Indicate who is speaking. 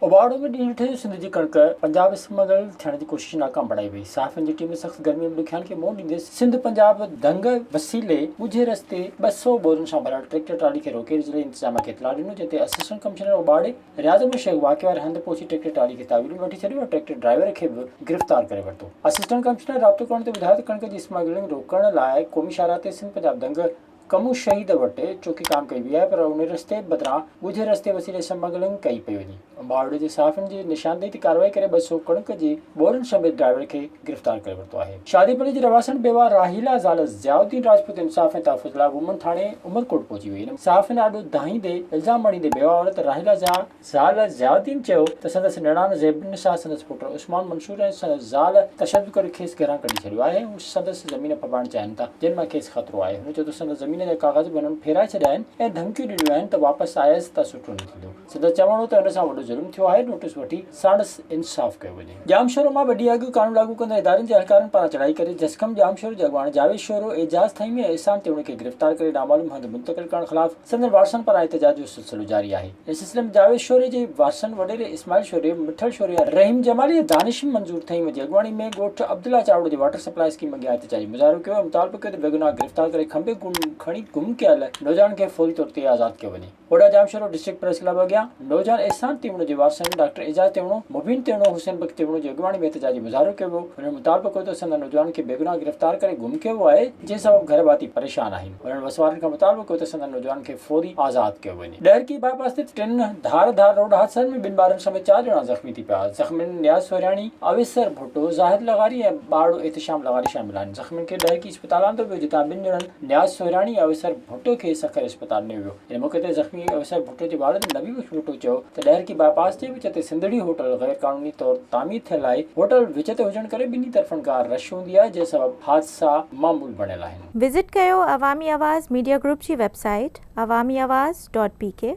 Speaker 1: اوڀاڙو ۾ ڏينهن ٺهيو سنڌ جي ڪڻڪ پنجاب اسمگل ٿيڻ جي ڪوشش ناڪام بڻائي وئي صحافين جي ٽيم سخت گرمي ۾ ڏکيائين کي منهن ڏيندي سنڌ پنجاب ڌنگ وسيلي ڳجهي رستي ٻه سؤ بورن سان ڀريل ٽريڪٽر ٽرالي کي روڪي ضلعي انتظاميا کي اطلاع ڏنو جنهن تي اسسٽنٽ ڪمشنر اوڀاڙي رياض احمد شيخ واقعي واري هنڌ پهچي ٽريڪٽر ٽرالي کي تحويل ۾ وٺي ڇڏيو ۽ ٽريڪٽر ڊرائيور کي به گرفتار ڪري ورتو اسسٽنٽ ڪمشنر رابطو ڪرڻ تي ٻڌايو ته ڪڻڪ جي اسمگلنگ روڪڻ لاء قومي شاهراهه تي سنڌ پنجاب ڌنگ ڪمون شهيد وٽ چوکي ڪام ڪئي وئي آهي پر ان رستي بدران ڳجهي رستي وسيلي سمگلنگ ڪئي پئي وڃي امباڙي جي صحافين جي نشاندهي تي ڪارروائي ڪري ٻه سؤ ڪڻڪ جي ٻورن سميت ڊرائيور کي گرفتار ڪري ورتو آهي شادي پلي جي رهواسڻ بيواه راحيلا زال ضياء الدين راجپوت انصاف ۽ تحفظ لاء وومن ٿاڻي عمرڪوٽ پهچي وئي ان صحافين آڏو دانهيندي الزام مڙهيندي بيواه عورت راحيلا ضياء زال ضياءالدين چيو ته سندس نڻان زيب النساء سندس پٽ عثمان منصور ۽ سندس زال تشدد ڪري کيس گهران ڪڍي ڇڏيو آهي ۽ هو سندس زمين ڦٻائڻ چاهين ٿا جنهن مان کيس خطرو آهي هن چيو ته سندس زمين جا ڪاغذ به هنن ڦيرائي ڇڏيا آهن ۽ ڌمڪيون ڏنيون آهن ته واپس آيس ته سٺو نه ٿيندو سندس چوڻ هو ته هن سان وڏو ظلم ٿيو آهي نوٽس وٺي ساڻس انصاف ڪيو وڃي. ڄام شورو مان ٻه ڏينهن اڳ قانون لاڳو ڪندڙ ادارن جي اهلڪارن پاران چڙهائي ڪري جسقم ڄام شورو جي اڳواڻ جاويد شورو، اعجاز ٿهيمي ۽ احسان تيوڻي کي گرفتار ڪري نامعلوم هنڌ منتقل ڪرڻ خلاف سندن وارثن پاران احتجاج جو سلسلو جاري آهي. ان سلسلي ۾ جاويد شوري جي وارثن وڏيري اسماعيل شوري، مٺل شوري ۽ رحيم جمالي ۽ دانش منظور ٿهيم جي اڳواڻي ۾ ڳوٺ عبدالله چاوڙو جي واٽر سپلاء اسڪيم اڳيان احتجاجي مظاهرو ڪيو ۽ مطالبو ڪيو ته بيگناهه گرفتار ڪري کنڀي کڻي گم ڪيل نوجوانن کي فوري طور تي آزاد ڪيو وڃي. وڏا ڄامشورو ڊسٽرڪٽ پريس ڪلب اڳيان نوجوان احسان تيوڻو جي وارثن ڊاڪٽر اعجاز تيوڻو، مبين تيوڻو، حسين بخش تيوڻو جي اڳواڻي ۾ احتجاجي مظاهرو ڪيو ويو. هنن مطالبو ڪيو ته سندن نوجوانن کي بيگناهه گرفتار ڪري گم ڪيو ويو آهي. جنهن سبب گهر ڀاتي پريشان آهن، انهن وسوارن کان مطالبو ڪيو ته سندن نوجوانن کي فوري آزاد ڪيو وڃي. ڏهرڪي باء پاس تي ٽن ڌار ڌار روڊ حادثن ۾ ٻن ٻارن سميت چار ڄڻا زخمي ٿي پيا، زخمين نياز سورهياڻي، اويسر ڀٽو، زاهد لغاري ۽ ٻارڙو احتشام لغاري شامل آهن، زخمين کي ڏهرڪي اسپتال آندو ويو جتان ٻن ڄڻن نياز سورهياڻي ۽ اويسر ڀٽو کي سکر اسپتال نيو ويو. هن موقعي تي زخمي آفيسر ڀٽو جي والد نبي بخش ڀٽو چيو ته ڏهرڪي باء پاس جي وچ تي سنڌڙي هوٽل غير قانوني طور تعمير ٿيل آهي، هوٽل وچ تي هجڻ ڪري ٻنهي طرفن کان رش هوندي آهي جنهن سبب حادثا معمول بڻيل آهن. وزٽ ڪيو
Speaker 2: عوامي آواز ميڊيا گروپ جي web
Speaker 1: site
Speaker 2: Awami Awaz dot P ڪي.